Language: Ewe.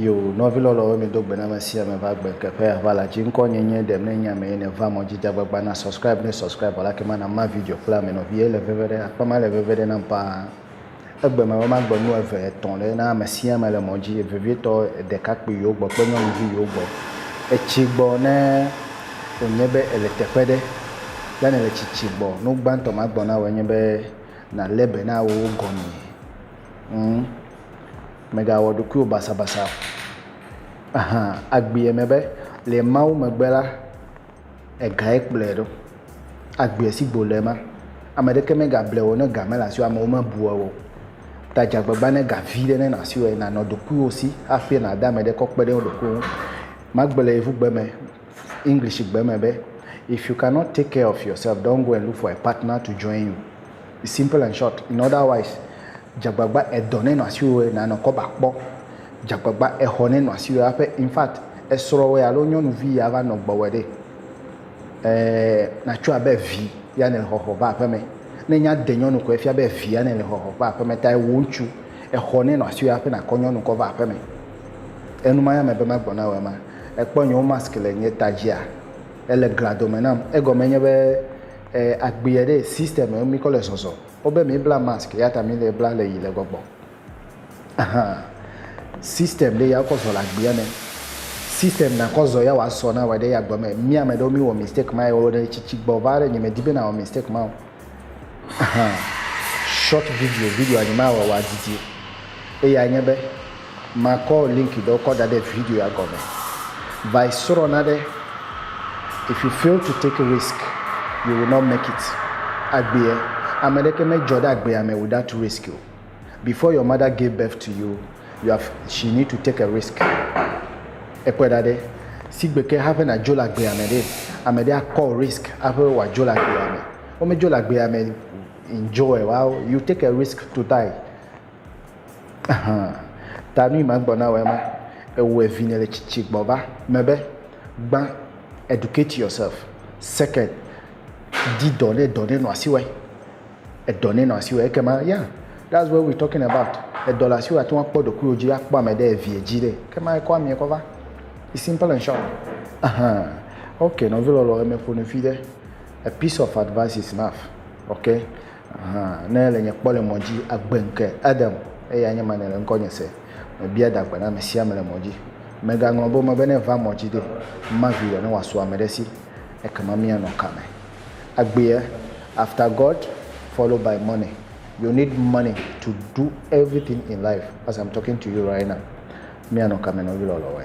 Yo, nɔvi lɔlɔwo mi do gbe na me sia me va gbe ke ƒe ava la dzi ŋkɔ nye nye dem ne nya me ne va mɔ jija gbagba na subscribe ne subscribe la ke ma na ma video kple ame nɔvi ye le veve ɖe akpa ma le veve ɖe nam paa. Egbe me be magbe nu eve, etɔ̃ ɖe na ame sia ame le mɔ dzi, vevietɔ ɖekakpui yewo gbɔ kple nyɔnuvi yewo gbɔ. Etsi gbɔ ne wònye be èle teƒe ɖe lé nèle tsitsi gbɔ. Nu gbãtɔ magblɔ na wò enye be nàlé be na wòwo gɔmee. Ŋ, mègawɔ ɖokuiwò basabasa o. Ahan, agbee me be, le Mawu megbe la, Egae kplɔe ɖo. Agbe si gbe wòle ma, ame ɖeke megable wò o, ne ga mele asiwò o, amewo mebua wò o. Ta dze agbagba ne ga vi ɖe nele asiwò eye nànɔ ɖokuiwò si hafi nàde ame ɖe kɔ kpe ɖe eɖokui ŋu. Magblɔ le Yevugbe me, Englishgbe me be, If you cannot take care of yourself, don't go and look for a partner to join you. Simple and short in other wise dzagbagba edɔ ne nɔ asiwòe na nɔ kɔba kpɔ dzagbagba exɔ ne nɔ asiwòe aƒe in fact esrɔwɔe alo nyɔnuvi ya va nɔ gbɔwɔe ɖe eh na tso abe vi ya ne le xɔxɔ va aƒeme ne nya de nyɔnu kɔe fia be vi ya ne le xɔxɔ va aƒeme ta ewò ŋutsu exɔ ne nɔ asiwòe aƒe na kɔ nyɔnu kɔ va aƒeme enu ma ya me be ma gbɔ na wò ema ekpɔ nye wo mask le nye ta dzia ele gladome nam egɔme nye be. eh, agbea ɖe system mi kɔ le zɔzɔ. O be mi bla mask ya ta mi le bla le yi le gbɔgbɔ. Ahan. System ɖe ya kɔ zɔ le agbea me. System na kɔ zɔ ya wa sɔ na wa ɖe ya gbɔ me. Mi ame ɖewo mi wɔ mistake ma ya wo ɖe tsitsi gbɔ va ɖe nye me di be na wɔ mistake ma o. Ahan. Short video video anyi ma wa wa didi. Eya nye be Makɔ link ɖewo kɔ da ɖe video ya gɔme. Va yi srɔ̃ nane. If you fail to take risk, you will not make it. Agbea, ame ɖeke medzɔ ɖe agbea me without risk o. Before your mother gave birth to you, you have, she need to take a risk. Ekpɔe ɖa ɖe, sigbe ke haƒe nadzo le agbea me ɖe, ame ɖe akɔ risk haƒe wòadzo le agbea me. Womedzo le agbea me in joy, wow, you take a risk to die. Ahan, ta nu yi ma gblɔ na wòe ma, Ewɔe vinye le tsitsi gbɔ va me be, gbã, educate yourself, second, di dɔ ne dɔ ne nɔ asi wɔe, edɔ ne nɔ asi wɔe ekema ya that's what we talking about, edɔ le asiwɔ ateŋu akpɔ ɖokuiwò dzi akpɔ ame ɖe eviɛ dzi ɖe ekema ekɔ amiɛ kɔ va, it's simple and short, ahan, ok nɔvi lɔlɔ emeƒo nufiɖe, a piece of advice is enough, ok. Hã, ne èle nye kpɔ le mɔ dzi, agbe ŋke, Adam, eye anye ma nèle ŋkɔnye se. Mebia dagbe na ame sia ame le mɔ dzi. Mègaŋlɔ be wome be ne èva mɔ dzi ɖe, mavi ɖe ne wòasu ame ɖe si, ekema míanɔ ka me? Agbee, after God, followed by money. You need money to do everything in life, as I'm talking to you right now. Míanɔ ka me nɔ ɣilɔlɔwoe?